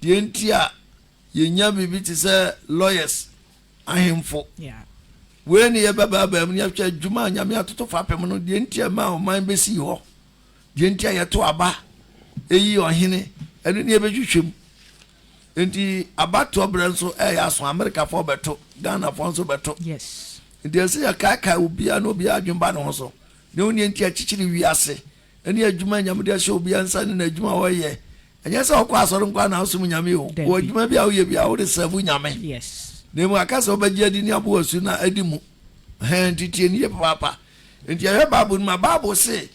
deɛ nti a yɛnya biribi te sɛ lawyers ahemfo wei ne yɛbɛbaabaa mu ne yɛhwɛ adwuma a nyame atoto fapem no deɛ nti a ma ɔman bɛsii hɔ deɛ nti a yɛto aba ɛyi ɔhene ɛno ne yɛbɛhwehwɛ mu Nti abatoɔ berɛ nso ɛyɛ aso Amerikafoɔ bɛto, Ghanafoɔ nso bɛto. Yes. Nti ɛsɛ yɛkaekae obiara na obiara adwene ba ne ho so. Deɛ wonneɛ nti akyikyiri wiase ɛne adwuma Nyame de ahyɛ obiara nsa ne n'adwuma a ɔyɛ. Ɛnyɛ sɛ wokɔ asɔre nkoa na wosom Nyame o, wɔ adwuma bi a woyɛ biara wode sɛvu Nyame. Yes. Na emu aka sɛ wobɛgye adi ne abo asu na adi mu. Ɛhɛn, nti tie no yie papaapa. Nti yɛhwɛ Bible no mu a, Bible se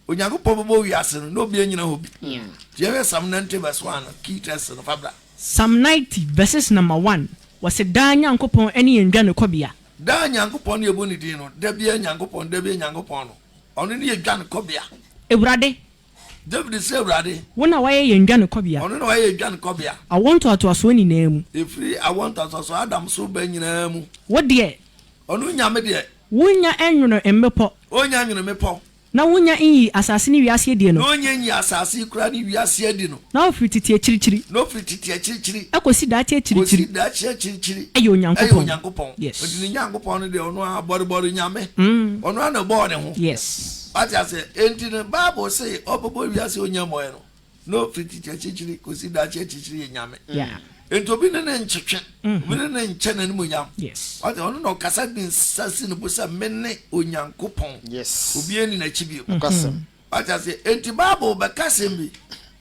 Onyankopɔn bɔbɔɔ wiase no na obi ennyina hɔ bi. Ntsi yɛnhwɛ Psalm ninety verse one no, key text no, fa bra. Psalm ninety verses number one, wɔse daa Nyankopɔn ne yɛn dwanekɔbea. Daa Nyankopɔn na yɛbɔ ne din no, da biara Nyankopɔn, da biara Nyankopɔn no, ɔno ne yɛn dwanekɔbea. Ewurade. David se Ewurade. Wo na wayɛ yɛn dwanekɔbea. Ɔno na wayɛ yɛn dwanekɔbea. Awoɔ ntoatoasoɔ nyinaa mu. Efiri awoɔ ntoatoasoɔ Adam so reba nyinaa mu. Wo deɛ. Ɔno Nyame deɛ. Wonnya nwono mmepɔ. Ɔnnya nwono mmepɔ. Na wonnya nnyii asase ne wiase adi no. Na onnya nnyii asase yi koraa ne wiase adi no. Na ofiri tete akyirikyiri. Na ofiri tete akyirikyiri. Kosi daakye akyirikyiri. Kosi daakye akyirikyiri. Yɛ Onyankopɔn. Yɛ Onyankopɔn. Yes. Enti ne Nyankopɔn no deɛ, ɔno ara, bɔrebɔre Nyame. Ɔno ara na ɔbɔɔ ne ho. Yes. Wate aseɛ? Enti no, Bible se ɔbɛbɔ wiase a onnya mmɔeɛ no. No firi tete akyirikyiri kɔsi daakye akyirikyiri yɛ Nyame. Nti obi ne ne nkyetwe, mm-hmm. obi ne ne nkyɛ n'animuonyam. Wate ɔno na ɔkasa de nsa si ne bo sɛ me ne Onyankopɔn. Obi ani n'akyi bio. Mm-hmm. Wate ase nti Bible bɛka asɛm bi.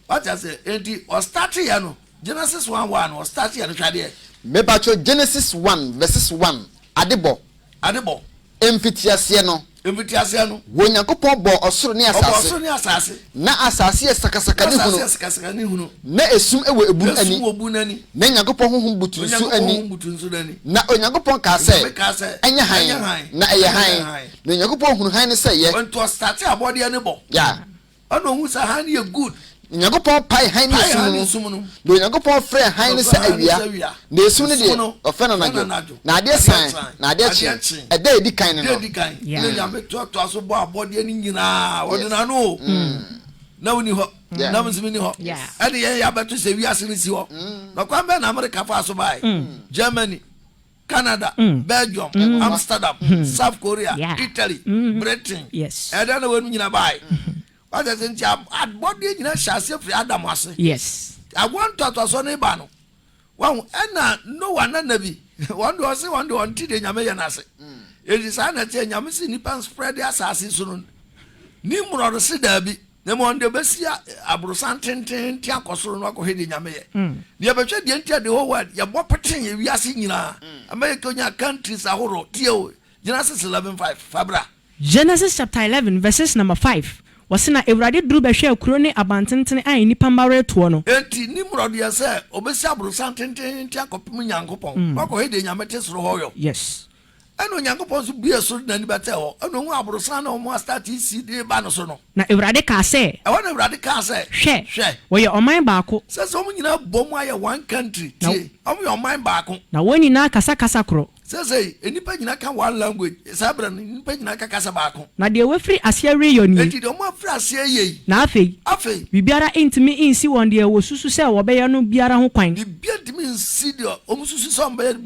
Wate ase nti ɔstate yɛ no Genesis one one ɔstate yɛ no hwadeɛ. Mepatwo Genesis one verses one adebɔ Ade bɔ. Mfitiaseɛ no. Mfitiaseɛ no. Wɔ Nyankopɔn bɔɔ ɔsoro ne asaase. Ɔbɔɔ ɔsoro ne asaase. Na asaase yɛ sakasaka ne hunu. Na asaase yɛ sakasaka ne hunu. Na esum wɔ ebun ani. Na esum wɔ ebun ani. Na Nyankopɔn honhom butu nsu ani. Na Nyankopɔn honhom butu nsu ani. Na Onyankopɔn kaa sɛ. Onyame kaa sɛ. Ɛnyɛ hann. Ɛnyɛ hann. Na ɛyɛ hann. Na Onyankopɔn hunu hann no sɛ ɛyɛ. Nti ɔstate abɔdeɛ no bɔ. Ya. Ɔna ohun sɛ hann yɛ good. Onyankopɔn pae hann ne esum no mu, na Onyankopɔn frɛɛ hann no sɛ awia, na esum no deɛ, ɔfrɛ no anadwo. Na adeɛ san, na adeɛ kye, ɛda a edi kan ne no. Ɛna Nyame toatoa so bɔɔ abɔdeɛ no nyinaa, ɔde n'ano o, na wonni hɔ, na bosome nni hɔ, ɛne yɛn yɛ abɛto sɛ wiase no si hɔ. Na kwan bɛn na Amerika faa so baeɛ? Germany. Canada, Belgium, Amsterdam, South Korea, Italy, Britain, ɛdɛn na wɔn nyinaa baae? Wɔasɛ sɛ nti abɔdeɛ nyinaa hyɛ aseɛ firi Adam ase. Awoɔ ntoatoasoɔ no ba no, wɔn ɛna Noa na Nabi, wɔn de wɔn se wɔn de wɔn ti deɛ Nyame yɛ no ase. Eti saa na ɛteɛ Nyame se nipa nspread asase so no. Nimrod se daabi, Na mmom ɔno deɛ ɔbɛsi aborosan tenteenten akɔ soro no akɔhwɛ deɛ Nyame yɛ. Na yɛbɛhwɛ deɛ nti a the whole world yɛbɔ petee ewiase nyinaa ama yɛkɔnya countries ahorow. Tie o, Genesis eleven five, fa bra. Genesis chapter eleven verses number five, wɔse na Awurade duru bɛhwɛɛ kuro ne abantentene a nnipa mma retoɔ no. Enti Nimrod yɛɛ sɛ ɔbɛsi aborosan tenteenten akɔpem Nyankopɔn, na wakɔhwɛ deɛ Nyame te soro hɔ yɔ. Yes. Ɛnna Onyankopɔn nso buee soro de n'ani bɛtɛɛ hɔ, ɛnna ohuu aborosan ne wɔn a statue si de reba no so no. Na Awurade kaa sɛ. Ɛhɔ na Awurade kaa sɛ. Hwɛ! Hwɛ! Wɔyɛ ɔman baako. Sɛ sɛ wɔn nyinaa bom ayɛ one country. Na. Tie! Wɔyɛ ɔman baako. Na wɔn nyinaa kasa kasa koro. Seesei, nnipa nyinaa ka one language. Saa berɛ no, nnipa nyinaa ka kasa baako. Na deɛ wɔafiri aseɛ reyɔ nie. Enti deɛ wɔafiri aseɛ reyɛ yi. Na afei. Afei. Biribiara ntumi nsi wɔn deɛ wɔsusu sɛ wɔbɛyɛ no biara ho kwan. Biribiara ntumi nsi deɛ wɔsusu sɛ wɔbɛyɛ no.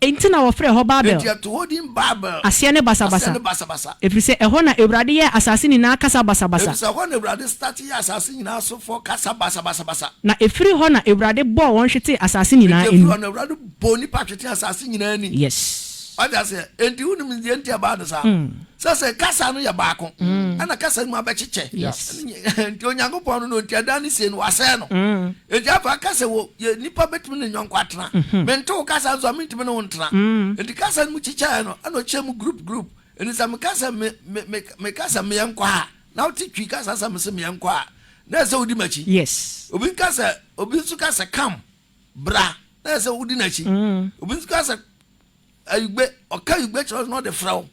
Enti na wɔfrɛ hɔ Babel. Enti ɛto hɔ din Babel. Aseɛ ne basabasa. Aseɛ ne basabasa. Ɛfiri sɛ ɛhɔ na Awurade yɛɛ asase nyinaa kasa basabasa. Ɛfiri sɛ ɛhɔ na Awurade starte yɛɛ asase nyinaa sofoɔ kasa basabasabasa. Na ɛfiri hɔ na Awurade bɔɔ wɔn hwetee asase nyinaa ani. Enti ɛfiri hɔ na Awurade bɔɔ nnipa hwetee asase nyinaa ani. Yes. Wate aseɛ? Enti wonim deɛ nti a ɛbaa no saa? sɛ sɛ kasa no yɛ baako mm. ɛna kasa no mu abɛkyekyɛ nti onyankopɔn no no nti ɛda ne sie no wasɛe no mm. nti afa kasa wɔ yɛ nipa bɛtumi ne nyɔnko atena mhm. mente wo kasa nso a mentumi ne wo ntena mm. nti kasa no mu kyekyɛɛ no ɛna ɔkyɛ mu group group ɛni sɛ mekasa mekasa meyɛ nkɔ a na wote twi kasa sɛ mese meyɛ nkɔ a na ɛsɛ wodi m'akyi yes obi nkasa obi nso kasa kam bra na ɛsɛ wodi n'akyi obi nso kasa Ayigbe, ɔka Ayigbe kyerɛ wo na ɔde frɛ wo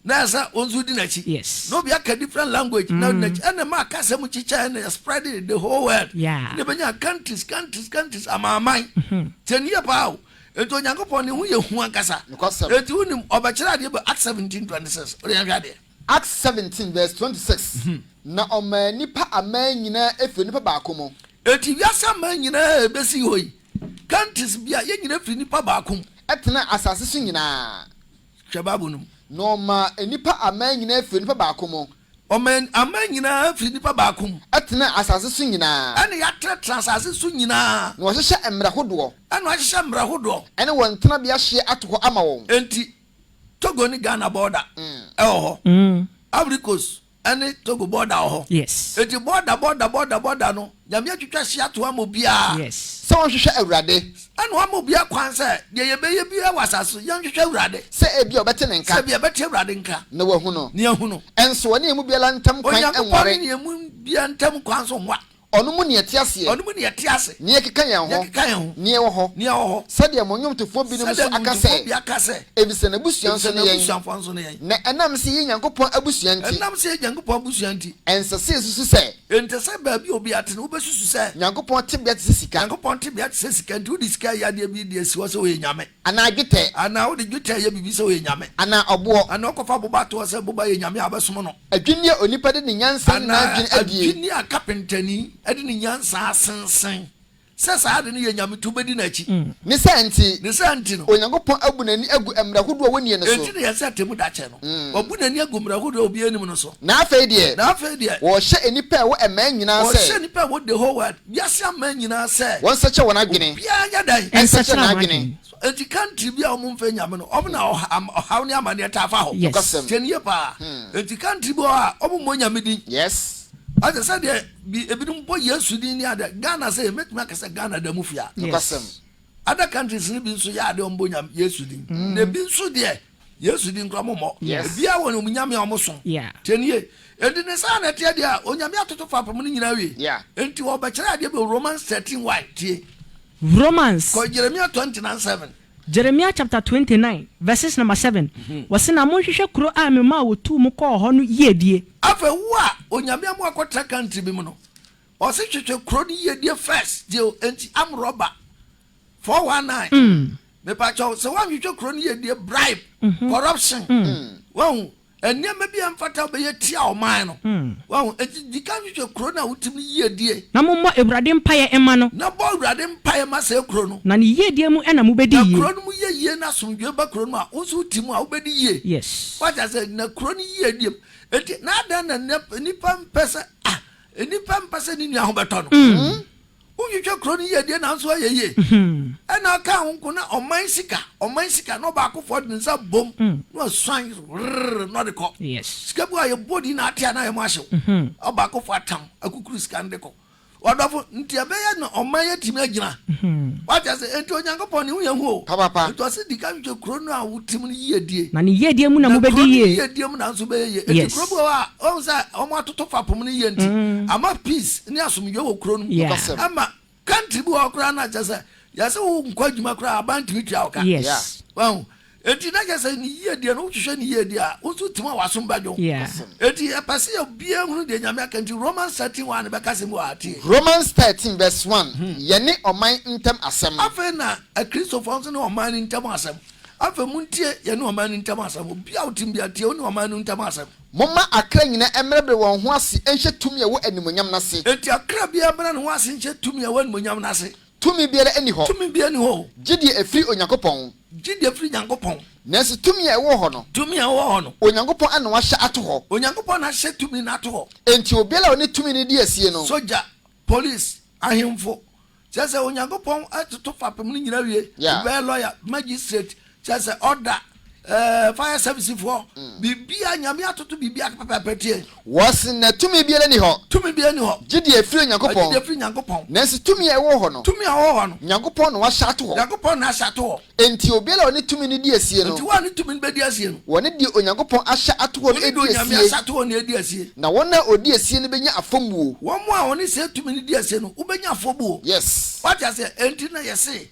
na ɛsɛ wo nso di n'akyi. Yes. Na obi aka different language na ɔdi n'akyi. Ɛna ɛma aka asɛm kyikyɛɛ ɛna yɛ spread it the whole world. Yeah. Ɛna ɛbɛnya countries, countries, countries, amanaman. Tie no yie paa o. Enti Onyankopɔn ne ho yɛ hu ankasa. Nokwasɛm. Enti wonim, ɔbɛkyerɛ adeɛ bɔ Acts seventeen twenty six. Wode yɛnhwɛ adeɛ. Acts seventeen verse twenty six, Na ɔmaa nnipa aman nyinaa firi onipa baako mu. Enti wiase aman nyinaa a ebesi hɔ yi, countries bi a yɛn nyinaa firi nipa baako mu. Ɛtenaa asase so nyinaa. Hwɛ Bible no mu. Na ɔmaa nnipa aman nyinaa firi onipa baako mu. Ɔmaa aman nyinaa firi nipa baako mu. Ɛtenaa asase so nyinaa. Ɛna yɛatenatena asase so nyinaa. Na wɔahyehyɛ mmerɛ hodoɔ. Ɛna wɔahyehyɛ mmerɛ hodoɔ. Ɛne wɔn tenabea hyeɛ ato hɔ ama wɔn. Enti Togo ne Ghana border ɛwɔ hɔ. Ivory Coast ɛne Togo bɔɔda wɔ hɔ. Yes. Eti bɔɔda bɔɔda bɔɔda bɔɔda no, Nyame atwitwa hyia to ama obiara. Yes. Sɛ wɔnhwehwɛ Awurade. Ɛna wama obiara kwan sɛ deɛ yɛbɛyɛ biara wɔ asase so, yɛnhwehwɛ Awurade. Sɛ ebia ɔbɛte ne nka. Sɛ ebia ɔbɛte Awurade nka. Na wahu no. Na yɛahu no. Nso ɔne yɛn mu biara ntam kwan nware. Onyankopɔn ne yɛn mu biara ntam kwan nso nwa. Ɔno mu neɛ te aseɛ. Ɔno mu neɛ te ase. Neɛ keka yɛn ho. Neɛ keka yɛn ho. Neɛ wɔ hɔ. Neɛ wɔ hɔ. Sɛdeɛ mo nwomtofoɔ binom nso aka sɛ. Sɛdeɛ nwomtofoɔ bi aka sɛ. Efisɛ n'abusua nso ne yɛn. Efisɛ n'abusuafoɔ nso ne yɛn. Na ɛnam sɛ yɛyɛ Nyankopɔn abusua nti. Ɛnam sɛ yɛyɛ Nyankopɔn abusua nti. Ɛnsɛ sɛ yɛsusu sɛ. Ɛnsɛ sɛ baabi a obiara te no wobɛsusu sɛ. Nyankopɔn tebea te sɛ sika. Nyankopɔn tebea te sɛ sika nti wode sika reyɛ adeɛ bi de asi hɔ sɛ ɔyɛ nyame. Anaa dwetɛ. Anaa wode dwetɛ yɛ biribi sɛ ɔyɛ nyame. Anaa ɔboɔ. Anaa ɔkɔfa boba toɔ sɛ boba yɛ nyame a bɛsom no. Adwinneɛ a onipa de ne nyansa ne n'adwene adie. Anaa adwinneɛ a kapentani de ne nyansa asensen sɛ saa ade no yɛ nyame nti wobɛdi n'akyi. Ne saa nti. Ne saa nti no. Onyankopɔn abu n'ani agu mmerɛ hodoɔ a wɔnnie no so. Enti na yɛn sɛ atemmu da kyɛ no. Wabu n'ani agu mmerɛ hodoɔ a obiara nnim no so. Na afei deɛ. Na afei deɛ. Wɔrehyɛ nnipa a ɛwɔ mmaa nyinaa sɛ. Wɔrehyɛ nnipa a ɛwɔ the whole world Wiase aman nyinaa sɛ. Wɔn nsɛkyɛ wɔn adwene. Obiara nyɛ dɛn. Nsɛkyɛ n'adwene. Enti kantri bi a wɔn mfɛ nyame no, wɔn na ɔhaw ne amaneɛ taa fa hɔ. Nokwasɛm. Tie no yie paa. Enti kantri bi wɔ hɔ a, wɔn mmɔ nyame din. Yes. Ate sɛdeɛ bi, ebinom bɔ Yesu din ne adeɛ. Ghana sei, mɛtumi aka sɛ Ghana da mu fia. Nokwasɛm. Other countries no bi nso yɛ adeɛ a wɔn bɔ nyame, Yesu din. Na ebi nso deɛ. Yesu di nkura mo mɔ. Ebia wɔ wɔn nyame a wɔn so. Tie ni ye. Enti ne saa na ɛteɛ deɛ a, onyame atoto fapem no nyinaa wie. Enti wɔbɛkyerɛ adeɛ bi wɔ Romans thirteen y. Tie. Romans. Kɔ Jeremia twenty nine seven. Jeremia chapter twenty nine verses number seven, wɔsi na monhwehwɛ kuro a me maa wɔtuu mo kɔɔ hɔ no yiedie. Afei wo a onyame ama wakɔtra country bi mu no, ɔsi hwehwɛ kuro no yiedie first. Tie o, enti am rɔba. Four one nine mepakyɛw sɛ woanhwehwɛ kuro no yɛ die bribe corruption wahu nneɛma bi a ɛmfata wobɛyɛ tia ɔman no wahu enti dika nhwehwɛ kuro no a wotim no yie die. Na mommɔ Awurade mpaeɛ mma no. Na bɔ Awurade mpaeɛ ma saa kuro no. Na ne yie die mu na mobɛdi yie. Na kuro no mu yɛ yie na asomdwoeɛ ba kuro no mu a wo nso wote mu a wobɛdi yie. Yes. Wate aseɛ na kuro no yie die mu enti na adɛn na nnipa mpɛ sɛ ah nnipa mpɛ sɛ ne nua ho bɛtɔ no. Wontwitwa kuro no yiedie nanso ayɛ yie ɛna aka wo nko na ɔman sika ɔman sika na ɔbaakofoɔ de ne nsa bom na ɔsuan rrrr na ɔde kɔ. Sika bi wɔ hɔ a yɛbɔ din na ate a na ayɛ mu ahyew. Ɔbaakofoɔ atam akukuru sika no de kɔ. Ɔdɔfo, nti ɛbɛyɛ na ɔman yi atumi agyina. Woate aseɛ? Enti Onyankopɔn ne ho yɛ hu o. Enti ɔse di kan twitwa kuro no a wote mu no yiedie. Na ne yiedie mu na mobɛdi yie. Na kuro no yiedie mu na nso wobɛyɛ yie. Enti kuro bi wɔ hɔ a, woahu sɛ wɔatoto fapem no yie nti ama peace. ne asomdwoe wɔ kurow no mu Yeah. nokɔsɛm. Ɛma country bi wɔ hɔ koraa na kyerɛ sɛ yɛsɛ wo nkɔ adwuma koraa aban ntumi tua wo ka. Yes. Yeah. Wahu? Enti na kyerɛ sɛ ne yiedie no, wohwehwɛ ne yiedie a, wo nso tim a w'asom bɛdwo. Yeah. Awesome. Enti ɛpɛ sɛ obiara hunu deɛ Nyame aka nti Romans 13 1 no bɛka asɛm bi wɔ ha tie. Romans thirteen verse one, Yɛne ɔman ntam asɛm. Afei na Akristofoɔ nso ne ɔman no ntam asɛm. Afei montie, yɛne ɔman no ntam asɛm. Obiara a wotim biara tie, wo ne ɔman no ntam asɛm. Momma akra nyinaa mmrɛbrɛ wɔn ho ase nhyɛ tumi a ɛwɔ animuonyam no ase. Enti akra biara mmrɛ ne ho ase nhyɛ tumi a ɛwɔ animuonyam no ase. Tumi biara nni hɔ. Tumi biara nni hɔ o. Gye deɛ ɛfiri Onyankopɔn. Gye deɛ ɛfiri Nyankopɔn. Nanso tumi a ɛwɔ hɔ no. Tumi a ɛwɔ hɔ no. Onyankopɔn na wahyɛ ato hɔ. Onyankopɔn na ahyɛ tumi no ato hɔ. Enti obiara a ɔne tumi no di asie no. Sogya. Polis, ahemfo, kyerɛ sɛ Onyankopɔn atoto fapem no nyinaa awie, Yeah. ɛbɛyɛ lɔya, magistrate, kyerɛ sɛ ɔda, eh, fire service foɔ, mm. biribiara, Nyame atoto biribiara pɛpɛɛpɛ tie. Wɔse na tumi biara nni hɔ. Tumi biara nni hɔ. Gye deɛ ɛfiri Onyankopɔn. Gye deɛ ɛfiri Nyankopɔn. Nanso tumi a ɛwɔ hɔ no. Tumi a ɛwɔ hɔ no. Nyankopɔn na wahyɛ ato hɔ. Nyankopɔn na ahyɛ ato hɔ. Enti obiara a ɔne tumi no di asie no. Enti wɔn a ne tumi no bedi asie no. Wɔne deɛ Onyankopɔn ahyɛ ato hɔ no Wɔne deɛ adi Onyame asie. ahyɛ ato hɔ no adi asie. Na wɔn a wɔdi asie no bɛnya afɔbuo. Wɔn a wɔne saa tumi no di asie no, wobɛnya afɔbuo. Yes. Wate aseɛ? Enti na yɛse,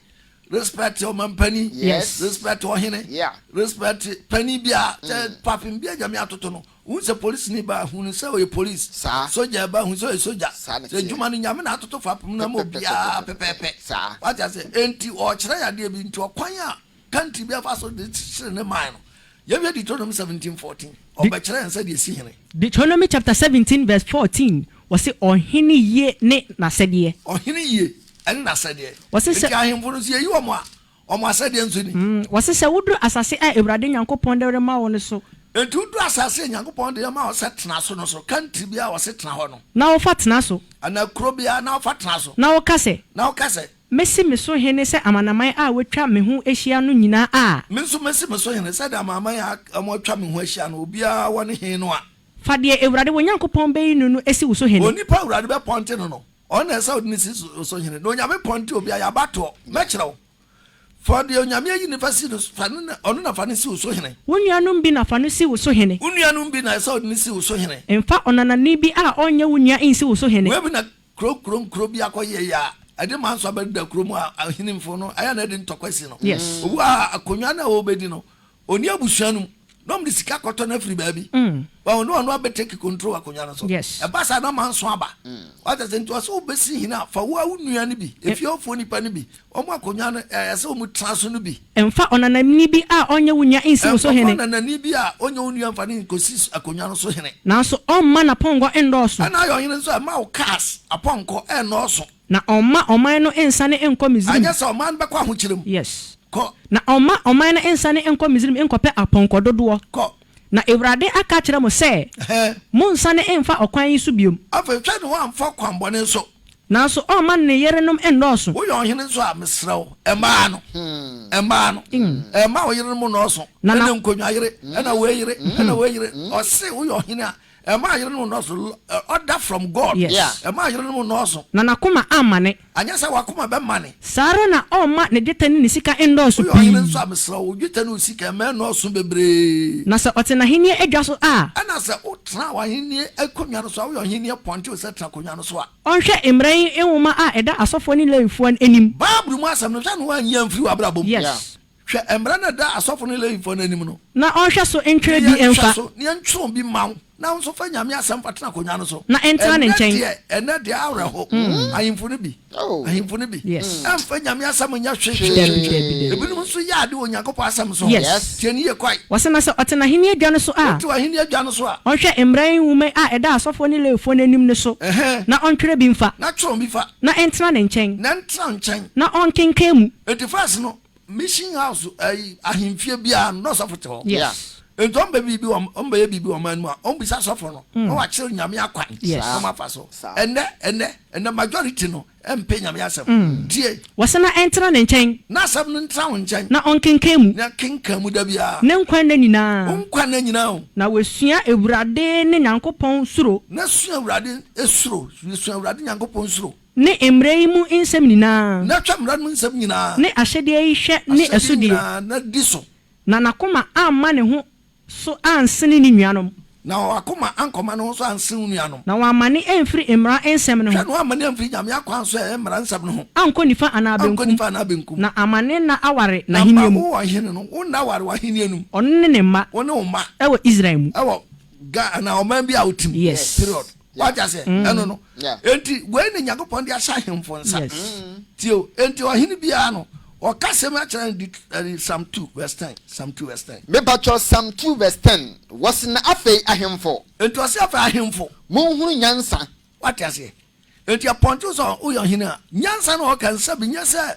Respect ɔmampanin. Yes. Respect ɔhene. Yeah. Respect panin biara. Sɛ fapem biara a Nyame atoto no, Wohu sɛ polisini baa hu no sɛ ɔyɛ polis, saa, sogya baa hu sɛ ɔyɛ sogya, saa na ɛteɛ. Adwuma no Nyame na atoto fapem no ama obiara pɛpɛɛpɛ, saa, wate aseɛ, enti ɔrekyerɛ yɛn adeɛ bi, enti ɔkwan a country biara fa so de kyekyere ne man no, yɛnhwɛ Deuteronomy seventeen fourteen, De, ɔbɛkyerɛ yɛn sɛdeɛ ɛsi hene. Deuteronomy chapter seventeen verse fourteen, wɔse ɔhene yie ne n'asɛdeɛ. Ɔhene yie ne n'asɛdeɛ, Wɔse sɛ. enti ahemfo no nso yɛyi wɔn a, wɔn asɛdeɛ nso ni. Wɔse sɛ woduru asase a Awurade Nyankopɔn de rema wo no so. Enti woduru asase a Nyankopɔn de rema wo sɛ tena so no so, country biara a wɔse tena hɔ no. Na wofa tena so. Anaa kuro biara na wofa tena so. Na woka sɛ. Na woka sɛ. Mɛsi me so hene sɛ amanaman a wɔatwa me ho ahyia no nyinaa a. Me nso mɛsi me so hene sɛdeɛ amanaman a wɔatwa me ho ahyia no, obiara wɔ ne he no a. Fa deɛ Awurade wo Nyankopɔn bɛyi no no si wo so hene. Onipa a Awurade bɛpɔnte no no. Ɔno na ɛsɛ sɛ wode no si so hene, na Onyame pɔn nti obiara yɛ abatoɔ. Mɛkyerɛ wo. Fa deɛ Onyame ayi no fa si no, fa no na, ɔno na fa no si wo so hene. Wo nuanom bi na fa no si wo so hene. Wo nuanom bi na ɛsɛ sɛ wode no si wo so hene. Mfa ɔnanani bi a ɔnyɛ wo nua nsi wo so hene. Wei bi na kuro kuro nkuro bi akɔyɛeɛ a, ɛde manso abɛdeda kuro mu a ahenimfo no ayɛ na ɛde ntɔkwa asi no. Obi wɔ ha a, akonnwa no a ɔrebɛdi no, Ɔnni abusua no mu. Na wɔde sika kɔtɔ no afiri baabi. Wahu na ɔno abɛ take control wɔ akonnwa no so. Ɛba saa na manso aba. Wate aseɛ? Nti ɔsɛ wobɛsi hene a, fa wo ara wo nua no bi, efie hɔfoɔ nnipa no bi, wɔn akonnwa no a ɛsɛ wɔn tena so no bi. Mfa ɔnanani bi a ɔnyɛ wo nua nsi wo so hene. Mfa ɔnanani bi a ɔnyɛ wo nua mfa no nkɔsi akonnwa no so hene. Nanso ɔmma n'apɔnkɔ nnɔɔso. Ɛnna ayɛ ɔhene nso a, mma wo cars, apɔnkɔ, nnɔɔso. Na ɔmma ɔman no nsane nkɔ Misraim. Anyɛ saa a, ɔman no bɛkɔ ahokyere mu. Yes. Kɔ. Na ɔmma ɔman no nsane nkɔ Misraim nkɔpɛ apɔnkɔ dodoɔ. Kɔ. Na Awurade aka akyerɛ mo sɛ, Ɛhɛ. Monnsane mmfa ɔkwan yi so biom. Afei hwɛ na woammfa ɔkwammɔne nso. Nanso ɔmma no ne yerenom nnɔɔso. Woyɛ ɔhene nso a, mesrɛ wo, mmaa no, mmaa no, mma wo yerenom nnɔɔso, ne nkonnwa yere, ɛna wei yere, ɛna wei yere. Ɔse woyɛ ɔhene a, Ɛmaa yerenom nnɔɔso, order from God. Yes. Ɛmaa yerenom nnɔɔso. Na n'akoma ammane. Anyɛ sɛ w'akoma bɛmane. Saa ara na ɔremma ne dwetɛ ne ne sika nnɔɔso pii. Woyɛ ɔhene nso a, mesrɛ wo, wo dwetɛ ne wo sika, mma ɛnnɔɔso bebree. Na sɛ ɔte n'ahenni adwa so a. Ɛnna sɛ wotena w'ahenni akonnwa no so a, woyɛ ɔhene apɔnkye o, sɛ tena akonnwa no so a. Ɔnhwɛ mmara yi nwoma a ɛda asɔfoɔ ne Lewifoɔ anim. Bible mu asɛm no, hwɛ na woanyi amfiri w'abrabɔ mu. Yes. Hwɛ mmara no a ɛda asɔfo ne Lewifoɔ no anim no. Na ɔnhwɛ so ntwerɛ bi mfa. Ne yɛnhwɛ so, ne yɛntwerɛ bi mma wo, na wo nso fa Nyame asɛm fa tena akonnwa no so. Na ntena ne nkyɛn. Ɛnnɛ deɛ, ɛnnɛ deɛ, awerɛho, ahemfo no bi, ahemfo no bi, ɛmfa Nyame asɛm nyɛ hwee. Ebinom nso yɛ ade wɔ Onyankopɔn asɛm so. Tie no yie kwae. Wɔse, na sɛ ɔte n'ahenni adwa no so a. Ɔte w'ahenni adwa no so a. Ɔnhwɛ mmara yi nwoma yi a ɛda asɔfoɔ ne Lewifoɔ no anim no so, na ɔntwerɛ bi mfa. Na twerɛ bi fa. Na ntena ne nkyɛn. Na ntena wo nkyɛn. Na ɔnkenkan mu. Enti verse no, Mission house ɛyi ahemfie biara no na ɔsɔfo te hɔ. Yes. Nti wɔn bɛ biribi wɔn wɔn bɛyɛ biribi wɔn man mu a wɔn bisa sɔfo no na mm. wakyerɛ nyame akwan na wɔn afa so. Ɛnɛ ɛnɛ ɛnɛ majority no ɛmpɛ nyame asɛm. Mm. Tie. Wɔsɛ na ɛntena ne nkyɛn. Na asɛm no ntena wɔn nkyɛn. Na ɔnkenkan mu. Na kenkan mu da biara. Ne nkwa nna nyinaa. Wɔn nkwa nna nyinaa o. Na wɔasua awurade ne nyankopɔn suro. Na sua awurade esuro sua awurade nyankopɔn suro. Ne mmara yi mu nsɛm nyinaa. Na hwɛ mmara no mu nsɛm nyinaa. Ne ahyɛdeɛ yi hwɛ ne ɛsodie. Ahyɛdeɛ nyinaa, na di so. Na n'akoma amma ne ho so ansene ne nuanom. Na wɔn akoma ankɔma ne ho so ansen wo nuanom. Na wɔammane amfiri mmara nsɛm no ho. Hwɛ, na wɔammane amfiri Nyame akwan so ɛɛ mmara nsɛm no ho. Ankɔ nifa anaa benkum. Ankɔ nifa anaa benkum. Na amma ne nna aware n'ahennie mu. Na amma wo ɔhene no wo nna aware w'ahennie no mu. Ɔno ne ne mma. Wo ne wo mma. Ɛwɔ Israel mu. Ɛwɔ Ga anaa ɔman bi a wote mu. Yes. Period. wate ase mm. ɛno no enti wei ne nyankopɔn de ahyɛ ahemfo nsa mm. tio enti ɔhene biara no ɔka sɛm akyerɛ no di ɛne sam two verse ten sam two verse ten. mepatwɔ sam two verse ten wɔsi na afei ahemfo. enti ɔsi afei ahemfo. mo nhuru nyansa. wate aseɛ enti apɔnkye sɛ woyɛ ɔhene a nyansa na ɔka nsa bi nyɛ sɛ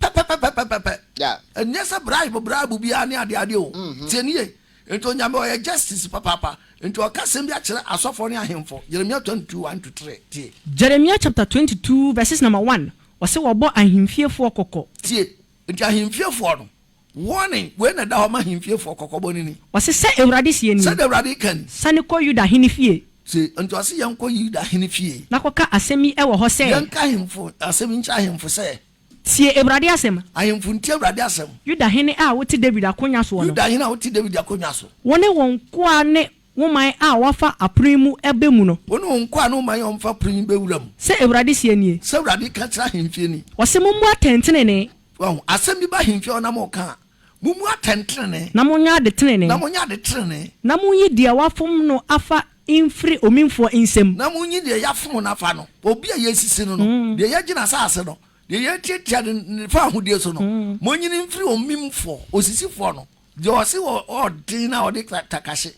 pɛpɛpɛpɛpɛpɛ. Yeah. Ɛnyɛ sɛ bribe bribe biara ne adeade o. Mm-hmm. Tie ne yie. Nti Onyame ɔyɛ justice papaapa. Nti ɔka sɛm bi akyerɛ asɔfoɔ ne ahemfo. Jeremia 22 1 to 3. Tie. Jeremia chapter 22 verses number 1, ɔse wɔbɔ ahemfiefoɔ kɔkɔ. Tie. Nti ahemfiefoɔ no, warning wei na ɛda hɔ ma ahemfiefoɔ, kɔkɔbɔ no ni. Ɔse sɛ Awurade seɛ nie. Sɛdeɛ Awurade ka ni. Sane kɔ Yuda hene fie. Tie. Nti ɔse yɛnkɔ Yuda hene fie. Na kɔka asɛm yi wɔ hɔ sɛ. Yɛnka ahemfo, asɛm yi nkyerɛ ahemfo sɛ. Tie Awurade asɛm. Ahemfo ntie Awurade asɛm. Yuda hene a wote Dawid akonnwa soɔ no. Yuda hene a wote Dawid akonnwa so. Wo ne wo nkoa ne wo man a wɔafa apono yi mu bɛ mu no. Wo ne wo nkoa ne wo man a wɔafa apono yi bɛ wura mu. Sɛ Awurade seɛ nie. Sɛ Awurade ka kyerɛ ahemfie ni. Ɔse mommɔ atɛntenenee. Wahu? Asɛm bi ba ahemfie hɔ na moka a. Mommu atɛntenenee. Na monyɛ adetenenee. Na monyɛ adetenenee. Na monyi deɛ wɔafom no afa mfiri omimfoɔ nsam. Na monyi deɛ yɛafom no afa no, obi a yɛasisi no no, deɛ yɛagye n'asaase no, deɛ yɛatiatia no ne fawohodie so no, monyi no mfiri omimfoɔ, osisifoɔ no, deɛ ɔse ɔɔden no a ɔde takahye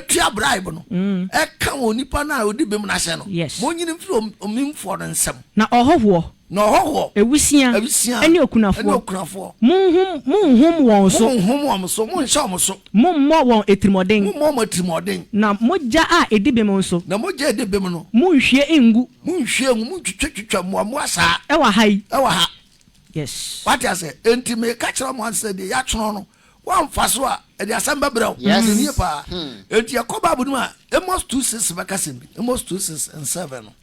tua bribe no, ɛka onipa no a ɔdi bem no ahyɛ no, monyi no mfiri omimfoɔ no nsam. Na ɔhɔhoɔ, Na ɔhɔhoɔ, awusia, awusia, ne okunafoɔ, ne okunafoɔ, monhum, monhum wɔn so, monhum wɔn so, monhyɛ wɔn so, mommɔ wɔn atirimuɔden, mommɔ wɔn atirimuɔden, na mogya a ɛdi bem nso, na mogya a ɛdi bem no, monhwie ngu, monhwie ngu, montwitwa twitwa mmoammoa saa, ɛwɔ ha yi, ɛwɔ ha. Yes. Wate ase? Enti meka kyerɛ mo ansa deɛ yɛatwerɛ no woamfa so a ɛde asɛm bɛbrɛ wo. Yes. Ɛnie paa. Hmm. Enti yɛkɔ Bible no mu a Amos 2:6 bɛka sɛm bi. Amos 2:6 and 7 no.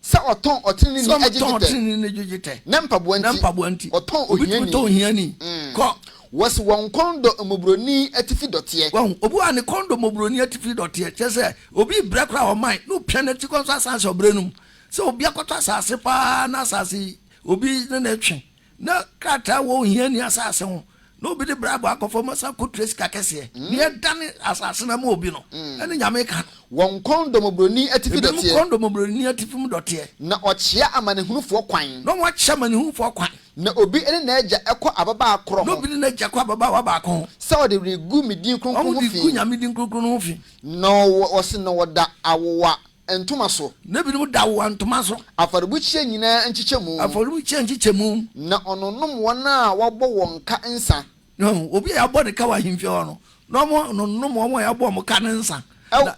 Sɛ ɔtɔn ɔteneneeni agye dwetɛ. Sɛ ɔtɔn ɔteneneeni agye dwetɛ. Ne mpaboa nti. Ne mpaboa nti. Ɔtɔn ohiani. Obi tumi tɔn ohiani. Kɔ. Wɔsi wɔn kɔn dɔ mmɔborɔni atifi dɔteɛ. Wahu obi a ne kɔn dɔ mmɔborɔni atifi dɔteɛ. Kyerɛ sɛ, obi rebrɛ koraa ɔman na opia n'ati kɔ nso asan ahyɛ ɔbrɛ no mu. Sɛ obi akɔtɔ asase paa na asase yi obi ne no retwe Na krataa wɔ ohia nni asase ho, na obi de brabo akɔ fam asan akotua sika kɛseɛ. Nea ɛdane asase no ama obi no, ɛne Nyame ka no. Wɔn kɔn dɔ mmɔborɔni atifi dɔteɛ. Ebinom kɔn dɔ mmɔborɔni atifi mu dɔteɛ. Na ɔkyea amanehunufoɔ kwan. Na wɔkyea amanehunufoɔ kwan. Na obi ne n'agya kɔ ababaa korɔ ho. Na obi ne n'agya kɔ ababaawa baako ho. Sɛ wɔde regu me din kronkron ho fi. Wɔde regu Nyame din kronkron no ho fi. Na wɔse na wɔda awowa. ntoma so. Na ebinom da wɔn ntoma so. Afɔrebukyia nyinaa nkyekyɛmu. Afɔrebukyia nkyekyɛmu. Na ɔnonom wɔn a wɔabɔ wɔn ka nsã. Na obi a yɛabɔ ne ka wɔ ahemfie hɔ no, na ɔnonom wɔn a yɛabɔ wɔn ka no nsã. Wɔ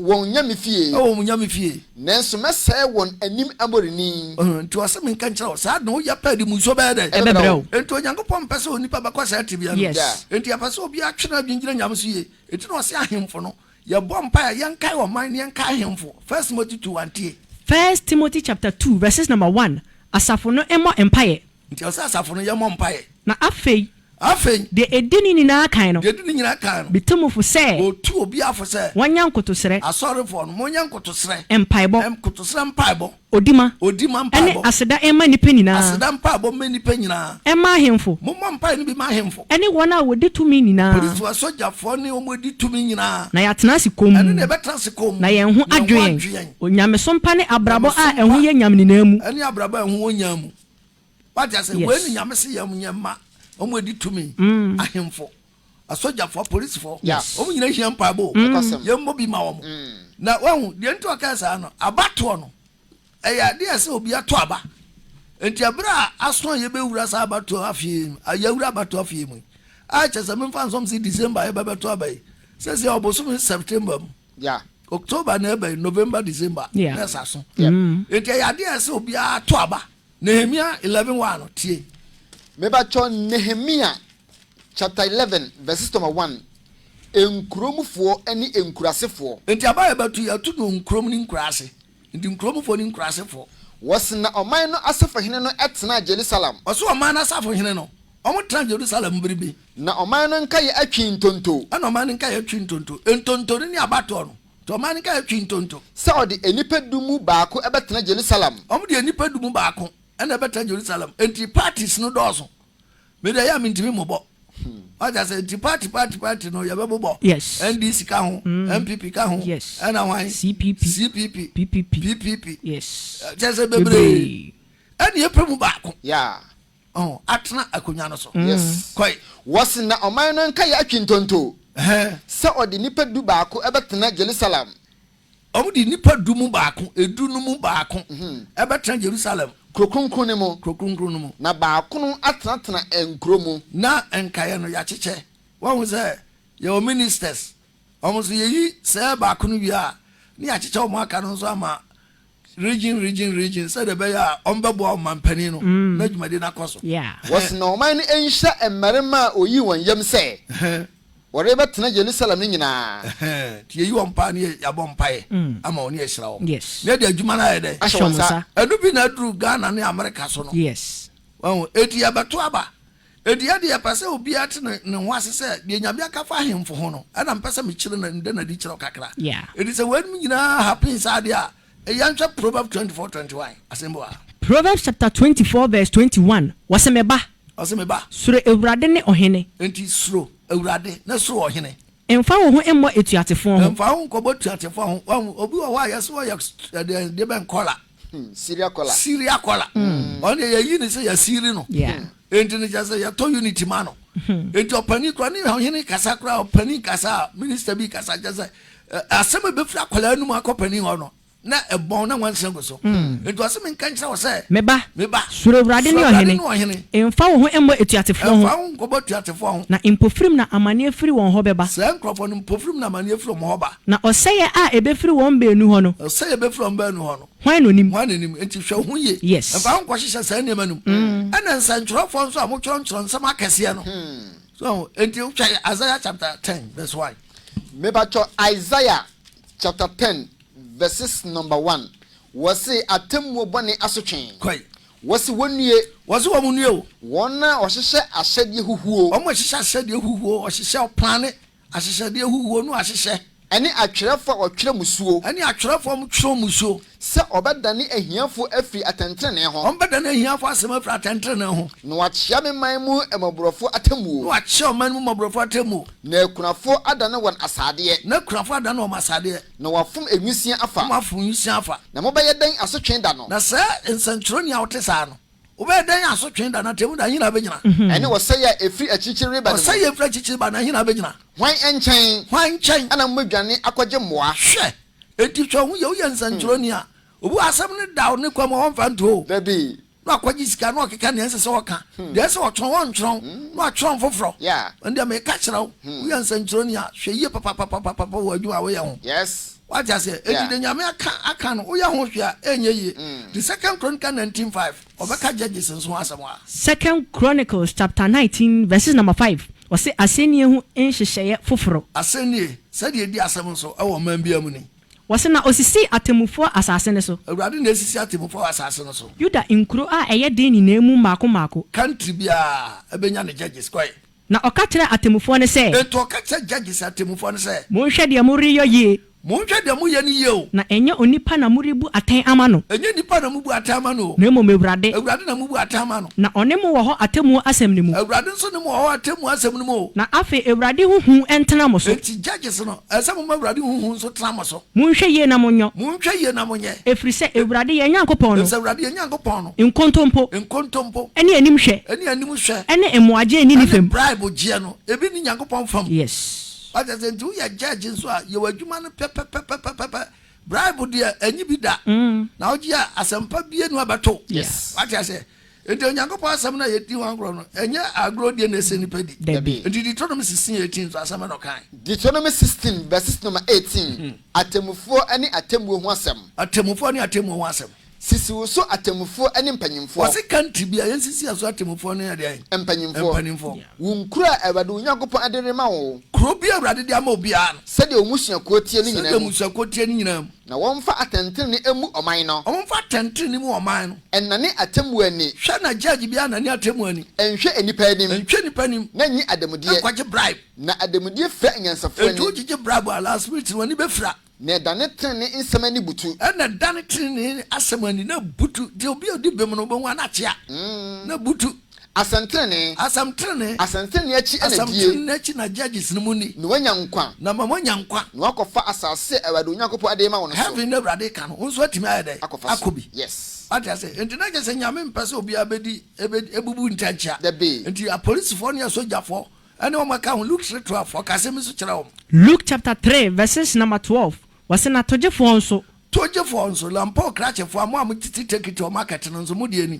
wɔn nyame fie. Wɔ wɔn nyame fie. Nanso mɛsɛe wɔn anim aborini. Enti ɔse menka nkyerɛ wo, saa na woyɛ pɛ de mu nsuo bɛyɛ dɛn? Ɛbɛbrɛ wo. Enti Onyankopɔn mpɛ sɛ onipa bɛkɔ saa tebea no mu. Enti ɛpɛ sɛ obiara twe n'adwene gyina Nyame so yie. Enti na ɔse ahemfo no, Yɛbɔ mpae a, yɛnkae ɔman ne yɛnkae ahemfo. First Timothy two one, tie. First Timothy chapter two verses number one, Asafo no mmɔ mpaeɛ. Nti ɛwɔ sɛ asafo no yɛmmɔ mpaeɛ. Na afei. Afei. Deɛ ɛdi ne nyinaa kan no. Deɛ ɛdi ne nyinaa kan no. Metu mo fo sɛ. Ɔtu obiara fo sɛ. Wɔnyɛ nkotosrɛ. Asɔrefoɔ no, monyɛ nkotosrɛ. Mpaebɔ. Nkotosrɛ mpaebɔ. Odi ma. Odi ma mpaebɔ. Ɛne aseda mma nnipa nyinaa. Aseda mpaebɔ mma nnipa nyinaa. Ɛmma ahemfo. Mommɔ mpae no bi mma ahemfo. Ɛne wɔn a wɔdi tumi nyinaa. Polisifo, asogyafoɔ ne wɔn a wɔdi tumi nyinaa. Na yɛatena ase komm. Ɛno na yɛbɛtena ase komm. Na yɛn ho adwo yɛn. Yɛn ho adwo yɛn. Onyamesom pa ne abrabɔ a ɛho yɛ nyam nyinaa mu. Ɛne abrabɔ a ɛho wɔ nyam mu. Wate aseɛ? Yes. Wei ne Nyame se yɛnyɛ mma wɔn a wɔdi tumi, ahemfo. asɔgyafo, apolisifo, Yes. wɔn nyinaa hia mpaebɔ o. Nokwasɛm. Yɛmmɔ bi ma wɔn. Mm. Na wahu deɛ nti a ɔkaa saa no, abatoɔ no, ɛyɛ adeɛ a ɛsɛ obi ato aba. Nti ɛberɛ a aso a yɛbɛwura saa abatoɔ afie yi mu, a yɛawura abatoɔ afie yi mu yi, a kyɛ sɛ memfa nsom sɛ December a yɛbɛbɛto aba yi, sɛsɛ ɔbosome September mu, Ya. October na ɛba yi, November, December, Yeah. na ɛsa so. Yep. Nti ɛyɛ adeɛ a ɛsɛ obiara ato aba. Nehemia 11 1 no, tie. Mebakyɛ Nehemia chapter eleven verses number one, Nkuromfoɔ ne nkurasefoɔ. Nti aba a yɛbɛto yi, yɛto no nkurom ne nkuraase. Nti nkuromfoɔ ne nkurasefoɔ. Wɔse na ɔman no asafohene no tenaa Jerusalem. Wɔse ɔman no asafohene no, wɔtenaa Jerusalem bere bi. Na ɔman no nkaeɛ atwi ntonto. Ɛna ɔman no nkaeɛ atwi ntonto. Ntonto no ne abatoɔ no. Nti ɔman no nkaeɛ atwi ntonto. Sɛ ɔde nnipa du mu baako bɛtena Jerusalem. Wɔde nnipa du mu baako na ɛbɛtena Jerusalem. Nti parties no dɔɔso. Me deɛ ɛyɛ a mentumi mmobɔ. Wate ase? Nti party party party no yɛbɛbobɔ. Yes. NDC ka ho, NPP ka ho, Yes. ɛna hwan? CPP. CPP, PPP. PPP. Yes. Ɛ, Kyerɛ sɛ bebree. Bebree. Ɛne yɛpɛ mu baako. Yeah. Ɔho, atena akonnwa no so. Yes. Kɔe. Wɔse na ɔman no nkaeɛ atwi ntonto Ɛhɛn. sɛ ɔde nnipa du baako bɛtena Jerusalem Wɔde nnipa du mu baako, edu no mu baako, bɛtena Jerusalem. Kuro kronkron no mu. Kuro kronkron no mu. Na baakono atenatena nkuro mu. Na nkaeɛ no, yɛakyekyɛ. Woahu sɛ yɛwɔ ministers, wɔn nso yɛyi sɛɛ baako no wie a, na yɛakyekyɛ wɔn aka no nso ama Region, region, region, sɛdeɛ ɛbɛyɛ a wɔbɛboa ɔmanpanin no na dwumadie no akɔ so. Wɔsoma ɔman no nhyɛ mmarima a wɔyii wɔn yam sɛ wɔrebɛtena Yerusalem no nyinaa. Enti yɛyi wɔn paa ne yɛabɔ mpaeɛ ama wɔn ne yɛahyira wɔn na yɛde adwuma no ayɛ dɛn? Ahyɛ wɔn nsa. Ɛno bi na aduru Ghana ne Amerika so no. Wahu? Enti yɛbɛto aba Ɛdeɛ deɛ ɛpɛ sɛ obiara te ne ne ho ase sɛ deɛ Nyame aka fa ahemfo ho no ɛna mpɛ sɛ mekyerɛ na meda no adi kyerɛ wo kakra. Ɛti sɛ weinom nyinaa happen saa deɛ a, yɛn hwɛ Proverbs twenty four twenty one, asɛmbu a. Proverbs chapter twenty four verse twenty one, wɔse, Me ba. Ɔse, Me ba. Suro Awurade ne ɔhene. Enti suro Awurade na suro ɔhene. Mfa wo ho mmɔ atuatefoɔ ho. Mfa wo ho nkɔbɔ atuatefoɔ ho. Wahu, obi wɔ hɔ a yɛse ɔyɛ deɛ bɛn, kɔla. Syria kɔla. Syria kɔla. Ɔno deɛ yɛyi no sɛ yɛasiri no. Enti no kyerɛ sɛ yɛtɔ unity ma no. Enti ɔpanin koraa ne ɔhene kasa koraa ɔpanin kasa a minister bi kasa kyerɛ sɛ asɛm a ɛbɛfiri akwadaa no mu akɔ panin hɔ no na ɛbɔn na nwansa gu so. Enti ɔse menka nkyerɛ wo sɛ. Me ba. Me ba. Suro Awurade ne ɔhene. Suro Awurade ne ɔhene. Mfa wo ho mmɔ atuatefoɔ ho. Mfa wo ho nkɔbɔ atuatefoɔ ho. Na mpofirim na amaneɛ firi wɔn hɔ bɛba. Saa nkurɔfoɔ no mpofirim na amaneɛ firi wɔn hɔ ba. Na ɔsɛeɛ a ɛbɛfiri wɔn baanu hɔ no. Ɔsɛeɛ a ɛbɛfiri wɔn baanu hɔ no. Hwan na ɔnim? Hwan na ɔnim? Enti hwɛ wo ho yie. Yes. Mfa wo ho nkɔhyehyɛ saa nneɛma no mu. Ɛna nsɛntwerɛfoɔ nso a motwerɛ ntwerɛ nsɛm akɛseɛ no. So ahu? Enti hwɛ Isaiah chapter ten verse one. Mepakyɛ Isaiah chapter ten verses number one. Wɔse atemmuo bɔne asotwe. Kɔe. Wɔse wɔnnue. Wɔse wɔn nnue o. Wɔn a wɔhyehyɛ ahyɛdeɛ huhuo. Wɔn a wɔhyehyɛ ahyɛdeɛ huhuo, wɔhyehyɛ, wɔplane. Ahyehyɛdeɛ huhuo no ahyehyɛ. Ɛne atwerɛfoɔ a wɔtwerɛ mmusuo. Ɛne atwerɛfoɔ a wɔtwerɛ mmusuo. Sɛ wɔbɛdane ahiafoɔ afiri atɛntenenee ho. Wɔbɛdane ahiafoɔ asɛm afiri atɛntenenee ho. Na wɔakyea me man mu mmɔborɔfoɔ atemmuo. Na wɔakyea ɔman mu mmɔborɔfoɔ atemmuo. Na akunafoɔ adane wɔn asadeɛ. Na akunafoɔ adane wɔn asadeɛ. Na wɔafom nwisiaa afa. Na wɔafom nwisiaa afa. Na mobɛyɛ dɛn asotwe da no? Na saa nsɛnkyerɛnne a ɔte saa no. Wobɛyɛ dɛn asotwe da na atemmu da, ɛhe na abɛgyina? Ɛne ɔsɛeɛ a ɛfiri akyirikyiri reba no mu. Ɔsɛeɛ a ɛfiri akyirikyiri ba no, ɛhe na abɛgyina? Hwan nkyɛn. Hwan nkyɛn. Na mobɛdwane akɔgye mmoa? Hwɛ! Enti sɛ ɔho yɛ wo yɛ nsɛnkyerɛwni a, obi wɔ asɛm no da wo ne kwa mu a ɔmfa nto oo, Dabi. na wakɔgye sika na ɔkeka nea ɛnsɛ sɛ ɔka, deɛ ɛsɛ sɛ ɔtwerɛ no ɔntwerɛ ho na watwerɛ ho foforɔ. Yeah. Ɛnde meka kyerɛ wo, woyɛ nsɛnkyerɛwni a, hwɛ yie papapapapapa wɔ adwuma a woyɛ ho. Yes. Wate aseɛ? Enti Yeah. deɛ Nyame aka, aka no, woyɛ ho hwee a, ɛnyɛ yie. The Second Chronicle nineteen five, ɔbɛka judges nso ho asɛm hɔ a. Second Chronicles chapter nineteen verses number five, ɔse asɛnnie ho nhyehyɛeɛ foforɔ. Asɛnnie, sɛdeɛ ɛdi asɛm nso wɔ ɔman biara mu ni. Wɔse na ɔsisii atemmufoɔ asase no so. Awurade na asisi atemmufoɔ wɔ asase no so. Yuda nkuro a ɛyɛ den nyinaa mu mmaako mmaako. Country biara bɛnya ne judges, kɔe. Na ɔka kyerɛɛ atemmufoɔ no sɛ. Enti ɔka kyerɛɛ judges, atemmufoɔ no sɛ. Monhwɛ deɛ moreyɔ yie. Monhwɛ deɛ moyɛ no yie o. Na ɛnyɛ onipa na morebu atɛn ama no. Ɛnyɛ nnipa na mobu atɛn ama no o. Na mmom Awurade. Awurade na mobu atɛn ama no. Na ɔne mo wɔ hɔ atemmuo asɛm no mu. Awurade nso ne mo wɔ hɔ atemmuo asɛm no mu o. Na afei Awurade ho hu ntena mo so. Enti judges no, ɛsɛ sɛ moma Awurade ho hu nso tena mo so. Monhwɛ yie na monyɔ. Monhwɛ yie na monyɛ. Ɛfiri sɛ Awurade yɛn Nyankopɔn no. Ɛfiri sɛ Awurade yɛn Nyankopɔn no. Nkontompo. Nkontompo. Ɛne animhwɛ. Ɛne animhwɛ. Ɛne mmoagyeɛ nni ne fam. Ɛne bribe gyeɛ no, ebi nni Nyankopɔn fam. Yes. Wate aseɛ? Nti woyɛ judge nso a, yɛ w'adwuma no pɛpɛpɛpɛpɛpɛ. Bribe deɛ, ɛnye bi da. Na wogye a, asɛmpa biara nni hɔ a ɛbɛto wo. Yes. Wate aseɛ? Enti Onyankopɔn asɛm no a yɛdi ho agorɔ no, ɛnyɛ agorɔdie na ɛsɛ nnipa di. Dabi. Enti Deuteronomy 16, 18 nso, asɛm bɛn na ɔkae? Deuteronomy 16, verses no ma 18, atemmufoɔ ne atemmuo ho asɛm. Atemmufoɔ ne atemmuo ho asɛm. Sisi wo so atemmufoɔ ne mpanimfoɔ. Wɔse country bi a, yɛnsisi yɛn so atemmufoɔ ne ɛdeɛn? Mpanimfoɔ. Mpanimfoɔ. Wo nkuro a Awurade wo Nyankopɔn de rema wo. Kuro bi a Awurade de ama obiara no. Sɛdeɛ wo mmusuakuo teɛ no nyinaa mu. Sɛdeɛ mmusuakuo teɛ no nyinaa mu. Na wɔmfa atɛntrenee mmu ɔman no. Wɔmfa atɛntrenee mmu ɔman no. Nnane atemmuo ani. Hwɛ na gyɛɛgye biara nnane atemmuo ani. Nnhwɛ nnipa anim. Nnhwɛ nnipa anim. Na nnye ademudeɛ. Nnkɔgye bribe. Na ademudeɛ fira anyansafoɔ ani. Enti wogyegye bribe a, last minute no wɔn ani bɛfira. Na ɛdane trenee nsɛm ani butu. Ɛna ɛdane trenee asɛm ani, na ɛbutu. Deɛ obi a ɔdi bem no, wobɛhu a na akyea, na ɛbutu. Asɛmtenenee. Asɛmtenenee. Asɛmtenenee akyi na die. Asɛmtenenee akyi na Judges no mu ni. Na wɔanya nkwa. Na ma wɔanya nkwa. Na wɔakɔfa asase a Awurade Onyankopɔn de rema wɔn no so. Heaven no Awurade ka no, wo nso woatumi ayɛ dɛn? Akɔfa so. Akɔ bi. Yes. Wate ase? Enti na kyerɛ sɛ Nyame mpɛ sɛ obiara bɛdi, ɛbɛ, ɛbubu ntɛnkyea. Dabi. Enti apolisifoɔ ne asogyafoɔ ne wɔn a ɛka ho, Luke tre twelve, ɔka asɛm yi nso kyerɛɛ wɔn. Luke chapter three verses number twelve, wɔse, Na togyefoɔ nso. Togyefoɔ nso, lampoo krakyefoɔ a, mo a motete tekiti wɔ market no nso, mo deɛ ni.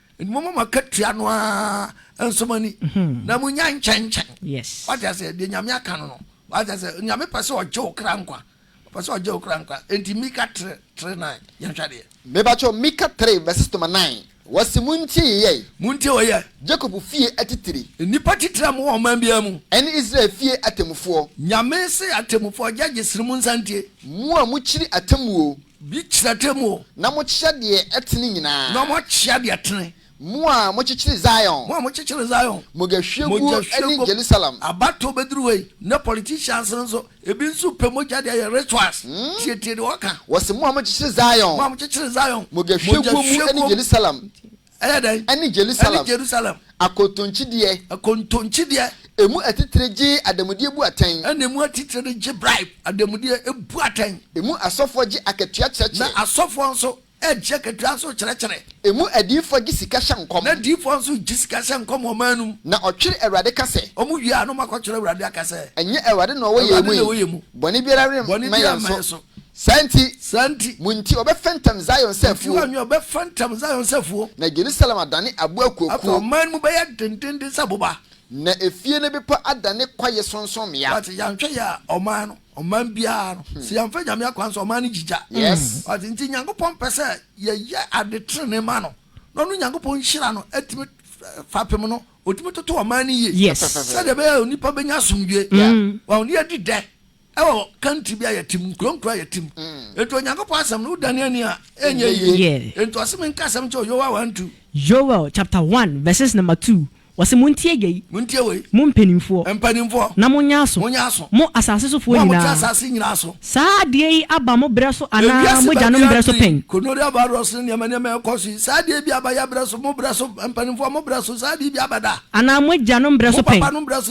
Mmom mo akatua no ara nso mo ani, hmm. na mo nya nkyɛnkyɛn. Yes. Wate ase deɛ nyame aka no no. Wate ase nyame pɛ sɛ ɔgye wo kra nkwa. Ɔpɛ sɛ ɔgye wo kra nkwa. Enti Mika tere tere nan yɛn hwɛ deɛ. Mebakyɛw Mika tere verse toma nan. Wɔsi mo ntie yeyɛe. Mo ntie wɔyɛ. Jacob fie atitire. Nnipa titire a mo wɔ ɔman biara mu. Ɛne Israel fie atemmufoɔ. Nyame se atemmufoɔ judges no mo nsa ntie. Mo a mo kyiri atemmuo. Bi kyerɛ atemmu o. Na mokyea deɛ ɛtene nyinaa. Na mokyea deɛ ɛtene. Mo a mokyekyere Zion. Mo a mokyekyere Zion. Mogyahwiegu ne Jerusalem. Abatoɔ bɛduru hɔ yi. Nnɛ politicians no nso, ebi nso pɛ mogya de ayɛ rituals. Tietie deɛ wɔka. Wɔse, Mo a mokyekyere Zion. Mo a mokyekyere Zion. Mogyahwiegu mu ne Jerusalem. Ɛyɛ dɛn? Ɛne Jerusalem. Ɛne Jerusalem. Akontonkyideɛ. Akontonkyideɛ. Emu atitire gye ademudeɛ bu atɛn. Ɛna emu atitire no gye bribe, ademudeɛ, bu atɛn. Emu asɔfoɔ gye akatua kyerɛkyerɛ. Na asɔfoɔ nso gye akatua nso kyerɛkyerɛ. Emu adiyifoɔ gye sika hyɛ nkɔm. Na adiyifoɔ nso gye sika hyɛ nkɔm wɔ ɔman no mu. Na ɔtwere Awurade ka sɛ. Wɔn wie a na wɔakɔtwerɛ Awurade aka sɛ. Ɛnyɛ Awurade na ɔwɔ yɛn mu yi. Awurade na ɔwɔ yɛn mu. Bɔne biara remma yɛn so. Saa nti. Saa nti. Mo nti wɔbɛfɛntɛm Zion sɛ afuo. Mo nti wɔbɛfɛntɛm Zion sɛ afuo. Na Yerusalem adane abo akuakuo. Afei ɔman no mu bɛyɛ dendeenden sɛ boba. Na efie ne bepɔ adane kwaeɛ sorɔnsorɔmmea. Wate, yɛanhwɛ yɛ a, ɔman no, ɔman biara no, sɛ yɛamfa Nyame akwan so a, ɔman no gyigya. Yes. Wate, nti Nyankopɔn pɛ sɛ yɛyɛ ade trenee ma no, na ɔno Nyankopɔn nhyira no atumi, fapem no, ɔtumi toto ɔman no yie. Yes. Sɛdeɛ ɛbɛyɛ a onipa bɛnya asomdwoeɛ. Yeah. Wɔn, ne yɛadi dɛ. ɛwɔ country bi a yɛte mu nkuro nkuro a yɛte mu mm. nti onyankopɔn asɛm no wodane ani a ɛnyɛ yie nti ɔse menka asɛm kyɛ yoel 1 2 yoel chapter 1 verses number 2 wɔse montie yei montie wei mo mpanimfoɔ mpanimfoɔ na monyɛ aso monyɛ aso mo asase sofoɔ nyinaa mo a asase nyinaa so saa adeɛ yi aba mo berɛ so anaa mo gyanom berɛ so pɛn konoria virus ne nneɛma nneɛma ɛkɔ so yi saa adeɛ bi aba yɛ berɛ so mo berɛ so mpanimfoɔ mo berɛ so saa adeɛ bi aba da anaa mo agyanom berɛ so pɛn mo papa no berɛ so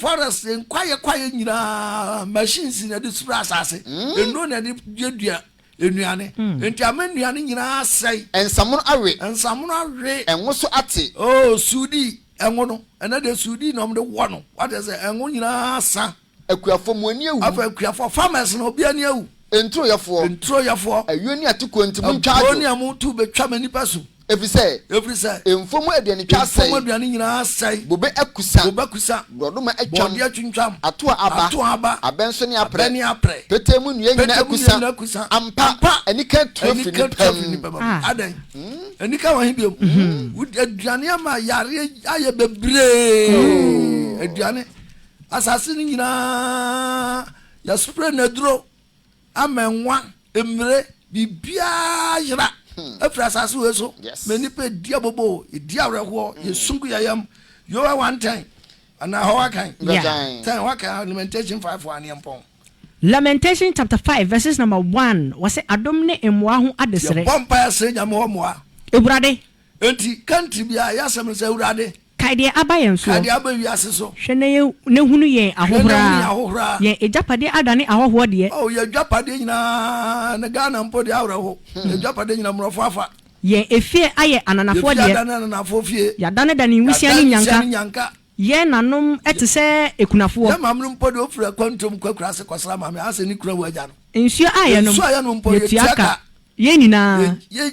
Forest nkwayɛ kwayɛ nyinaa machines na ɛde sura asase, nnuro na ɛde duadua nnuane, enti ama nnuane nyinaa asɛe. Nsamono awe. Nsamono awe. Ngo so ate. Oh, sudi, ngo no, ɛnɛ deɛ sudi na wɔde wɔ no, wate aseɛ, ngo nyinaa asa. Akuafoɔ, mo ani awu. Afei akuafoɔ, farmers no, obi ani awu. Nturoyɛfoɔ. Nturoyɛfoɔ. Ayuo ne atokoɔ nti, montwa adwo. Aburoo ne amu tu bɛtwa m'anipa su. Ɛfiri sɛ. Ɛfiri sɛ. Mfuom aduane twa asɛe. Mfuom aduane nyinaa asɛe. Bobe akusa. Bobe akusa. Borɔdɔma atwam. Borɔdeɛ atwintwam. Ato a aba. Ato a aba. Abɛ nso ne aprɛ. Abɛ ne aprɛ. Petee mu nnua nyinaa akusa. Petee mu nnua nyinaa akusa. Ampa. Ampa. Anika atu afiri nnipa mu. Anika atu afiri nnipa mu. Adɛn? Anika wɔ he bio? Aduane ama yareɛ ayɛ bebree. Aduane. Asase no nyinaa yɛspray no aduro. Amɛnwa, mmire, biribiara yera afiri asase wei so ma nnipa ɛdi aboboo, yɛdi awerɛhoɔ, hmm. yɛsum gu yɛyam. Yowa wantɛn anaa hɔ wakan tɛn wakan alimentation five wɔ aneɛ mpɔn. Lamentation chapter five verses number one wɔsɛ adom ne mmoa ho adesrɛ. Yɛbɔ mpaeɛ srɛ nyame hɔ mmoa. Awurade. Enti kantri biara yɛ asɛm no sɛ awurade. Kae deɛ aba yɛn soɔ. Kae deɛ aba wiase so. Hwɛ na yɛ na hunu yɛn ahohora. Hwɛ na hunu yɛn ahohora. Yɛn agyapadeɛ adane ahɔhoɔ deɛ. Oh yɛn agyapadeɛ nyinaa na Ghana mpo deɛ awerɛho. Yɛn agyapadeɛ nyinaa mmorɔfo afa. Yɛn efie ayɛ ananafoɔ deɛ. Yɛn fie adane ananafoɔ fie. Yɛadanedane nwusia ne nnyanka. Yɛadanedane nwusia ne nnyanka. Yɛn nanom te sɛ akunafoɔ. Yɛn maame no mpo deɛ ofiri akwantuom kɔ akuraase kɔsra maame ahase ne kunu awu agya no. Nsuo a yɛnom. Nsuo a yɛnom mpo yɛtua ka. Yɛn nyinaa. Yɛn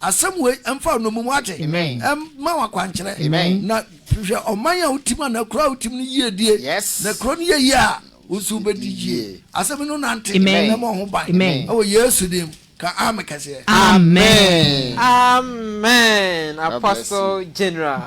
Asɛm wei mfa nnommum wate mma wo akwankyerɛ na hwehwɛ ɔman a wotim anaa kuro a wotim no yiedie na kuro no yɛ yie a wo nso wobɛdi yie asɛm no nante na ma ho ban ɛwɔ yesu dim ka ame kɛseɛ amen amen apostle general